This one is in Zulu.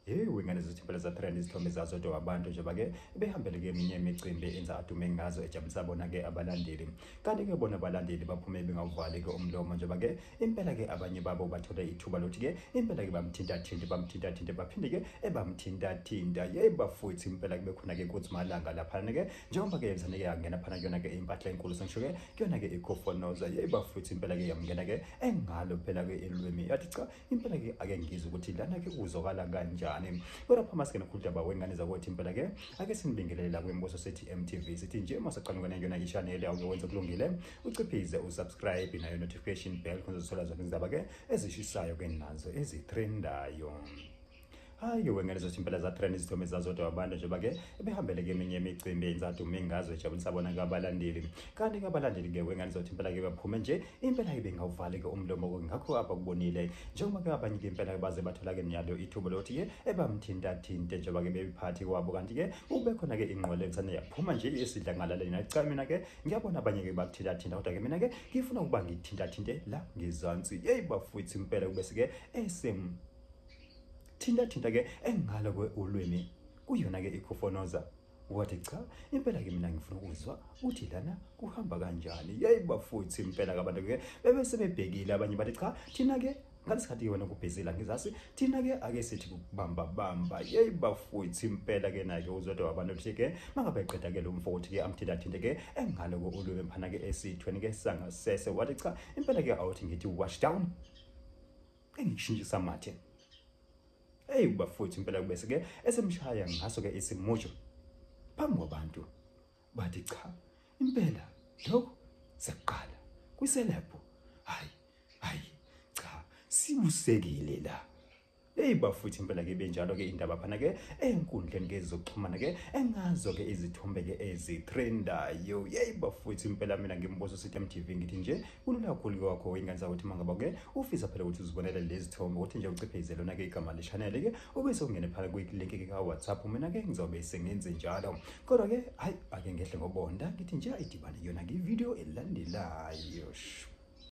yewu ingane zithempela zathanda izithombe zazo do abantu njengoba ke behambele ke eminye imicimbi enza adume ngazo ejabulisa bona ke abalandeli kanti ke bona abalandeli baphume bengawuvali ke umlomo njengoba ke impela ke abanye babo bathola ithuba lokuthi ke impela ke bamthintathinte bamthintathinte baphinde ke ebamthintathinta yeyi bafuthi impela ke bekhona ke kuthi malanga laphana ke njengoba ke yenzane ke yangena phana kuyona ke impahla enkulu sengisho ke kuyona-ke ikhofonoza yeba futhi impela-ke yamngena-ke engalo phela-ke elwimi yathi cha impela-ke ake ngizwe ukuthi lana-ke kuzokala kanjani kodwa phambi asike nokhulu daba wengane zakwethu impela-ke ake sinibingelele la kwimbuso sithi mtv sithi nje uma saqanukana kuyona ishaneli awuke wenze kulungile uciphize usubscribe nayo notification bell khona uzothola zonke izindaba-ke ezishisayo-ke nazo ezithrendayo hayi wengane zothi impela zatrend izithombe zazodwa abantu njengoba ke ebehambele keminye imicimbi eyinzathu mingazwe ejabulisa bona kabalandeli kanti ke abalandeli ke wengane zothi impela ke baphume nje impela ibe ngawuvali ke umlomo ke ngakho abakubonile njengoba ke abanye ke impela baze bathola ke nyalo ithubo lokuthi ke ebamthinta thinte njengoba ke bebiphathi kwabo kanti ke ube khona ke ingqole kusane yaphuma nje esidla ngalaleli nacha mina ke ngiyabona abanye ke bakuthinta thinta kodwa ke mina ke ngifuna ukuba ngithinta thinte la ngizansi hey bafuthi impela kube sike esem thinta thinta ke engalo kwe ulwimi kuyona ke ikhofonoza wathi cha impela ke mina ngifuna ukuzwa ukuthi lana kuhamba kanjani yeyi bafuthi impela kabantu ke bebe sebebhekile abanye bathi cha thina ke ngalesikhathi ke wena kubhizila ngizasi thina ke ake sithi kubamba bamba yeyi bafuthi impela ke naye uzodwa wabantu ukuthi ke mangabe eqeda ke lo mfo ukuthi ke amthinta thinte ke engalo ko ulwebe mphana ke esithweni ke sangasese wathi cha impela ke awuthi ngithi wash down engishintshisa amathe eyi kubafowethu impela kubese ke esemshaya ngaso ke isimujo phambi kwabantu bathi cha impela lokho sekuqala kwiselebhu hayi hayi cha sibusekile la Hey bafuthi impela ke benjalo ke indaba phana ke enkundleni ke zokuxhumana ke engazo ke izithombe ke ezitrendayo. Hey bafuthi impela mina ngimbuzo sithi MTV ngithi nje kulula kakhulu-ke wakho ingane zakuthi uma ngaba ke ufisa phela ukuthi uzibonele lezi thombe ukuthi nje uciphe izelona-ke igama leshanele-ke ube sewungene phela kwi-link-ke ka-whatsapp mina-ke ngizobe sengenze njalo kodwa-ke hhayi ake ngehle ngobonda ngithi nje idibane kuyona-ke ividiyo elandelayo